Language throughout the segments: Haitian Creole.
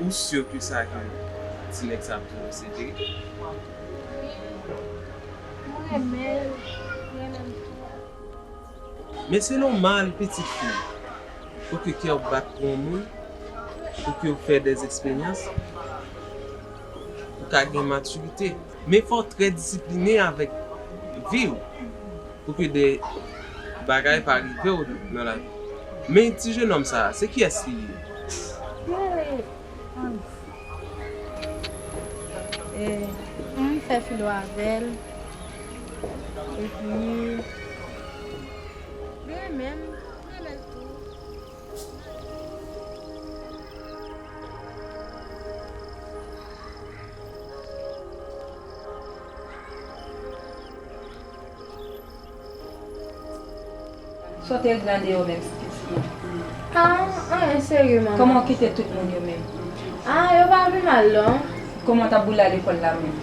Ou sur ke sa ke ti nèg sa ap touyem se verite? Waw m renmenl m renmenm tou. Men se nòmal pitit fi pou ke kèw bat pou yon moun pou kew fè dè eksperyans pou ka gen matirite men fòw trè disipline avèk viw Pou ke de bagay pa rive w nan lavi. Men ti jenòm sa a, se kiyès li ye? Mwen fè filo avè l, epi li renmen m, mwen renmen l tou. Sote gran deyò menm ti pitit lan. Ah anyn serye manman. Koman w kite tout moun yo menm. Ah yo pa vin mal non. Koman w tap boule al lekòl la menm.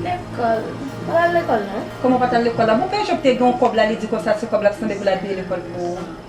Lekòl m pat al lekòl non. Koman w pat al lekòl la. Bon pè Job te gen yon kòb la li di konsa se kòb lap sanble pou l abiye lekòl pou ou.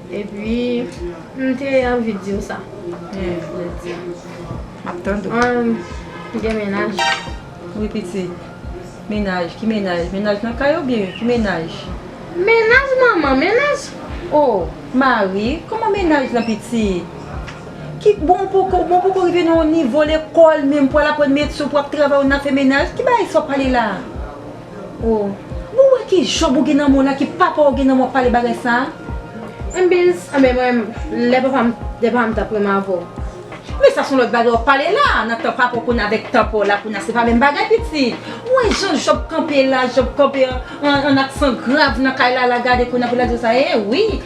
Epi m te anvi diw sa. Map tand ou. Ou gen menaj? Wi pitit. Menaj? Ki menaj? Menaj nan kay oubyen ki menaj? Menaj manman, menaj oh. Mari? Kòman menaj lan pitit? Ki bon ou poko, bon ou poko rive nan yon nivo lekòl menm pou al aprann metye ou pou ap travay ou nan fè menaj? Ki bagay sa wap pale la? Oh bon wè ki job ou gen nan men w la ki papa w gen nan men w ap pale bagay sa a. Mbizz anben mwen lè papa m lè papa m tap pran m avè w. Men sa son lòt bagay wap pale la nan tan papa w kounye a avèk tan pa w la kounye a se pa menm bagay pitit ou wè jan job kanpe la job kanpe an an aksan grav nan kay la la gade kounye a pou la di w sa ye wi.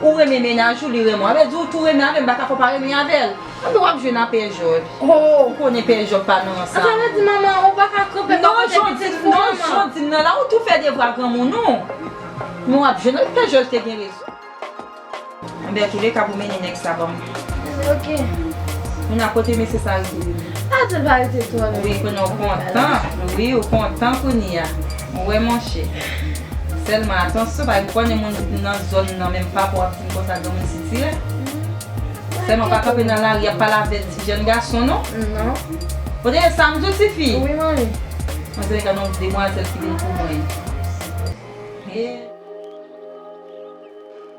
Ou renmen mennaj ou li renmen w avè di ou tou renmen avè m baka fè w pa renmen l avè l anben wap jwe nan pè jòj ou konnen pè jòj pa nou ansanm Atò wè di manman ou paka kanpe bò kote pitit pou manman Non jan w di m nan la ou tou fè devwa granmoun ou men wap jwe nan pè jòj te gen rezon Anben antoulèka pou mennen nèg sa banm Ok Moun a kote mesye sa rete Atò l pa rete twò lontan Wi kounye w kontan wi ou kontan kounye a. Mwen wè monchè. Selman atansyon pa gen konnen moun ki nan zòn nan menm pa pou ap di m konsa granmoun sitirè. Selman pa kanpe nan lari ap pale avèk ti jèn gason non. Non. Ou tande sam diw tifi? Wi manmi. Mwen se gen yon demwazèl ki vin pou mwen. Hee.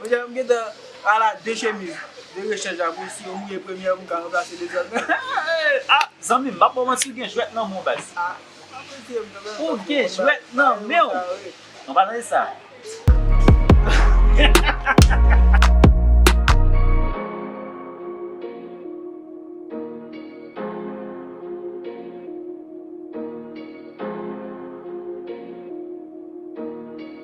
Monchè m gentan ala de chemiz de rechèj la mwen si yo mouye premyè m ka ranplase dezòd nan ah zanmi m pa pou w manti ou gen jwèt nan men w baz ou gen jwèt nan men w nou pa tande sa hahahaha.